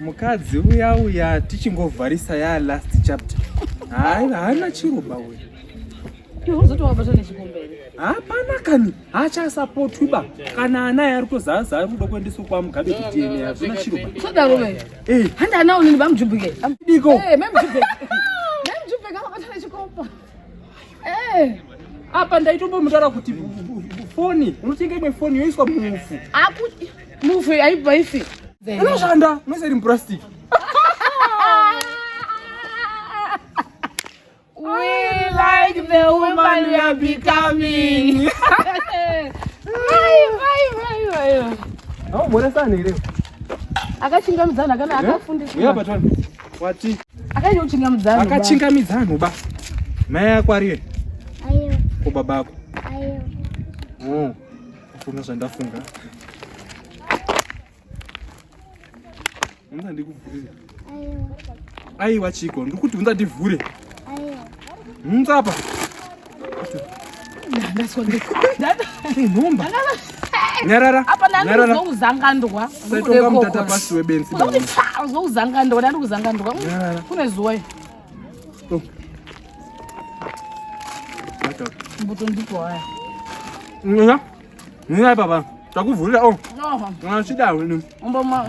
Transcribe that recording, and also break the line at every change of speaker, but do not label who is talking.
Mukadzi uya uya tichingovharisa ya last chapter. Hayi haana chiruba uya. Tozoti wabata nechikumberi. Hapana kani achasapotwi ba kana ana yari kuzaza ari kuda kuendeswa kwa Mugabe kuti ene hazvina chiruba. Sodaro ve. Eh. Handa ana unini bamjubike. Diko. Eh, memjubike. Memjubike akabata nechikomba. Eh, apa ndaitombomutaura kuti foni unotenga imwe foni yoiswa mufu apo mufu aibva ife inoshanda mwese iri mupurastic aumhoresani here akachingamizana kana akafundiswa Wati? Akanyochingamidza nhu. Akachingamidza nhu ba. Mai yako ariye? Ayo. Ko baba ako? Ayo. Oh. Kuna zvandafunga. Unza ndikuvhurira. Ayo. Aiwa chiko, ndikuti unza ndivhure. Ayo. Unza apa. nyarara apanaanozokuzangandwa saitonga mutata pasi webenzi uzokuzangandwa ndandi kuzangandwa kune zuwa iyo oh. mbuto ndiko haya nina nina papa takuvhurira o oh. achida wini umboma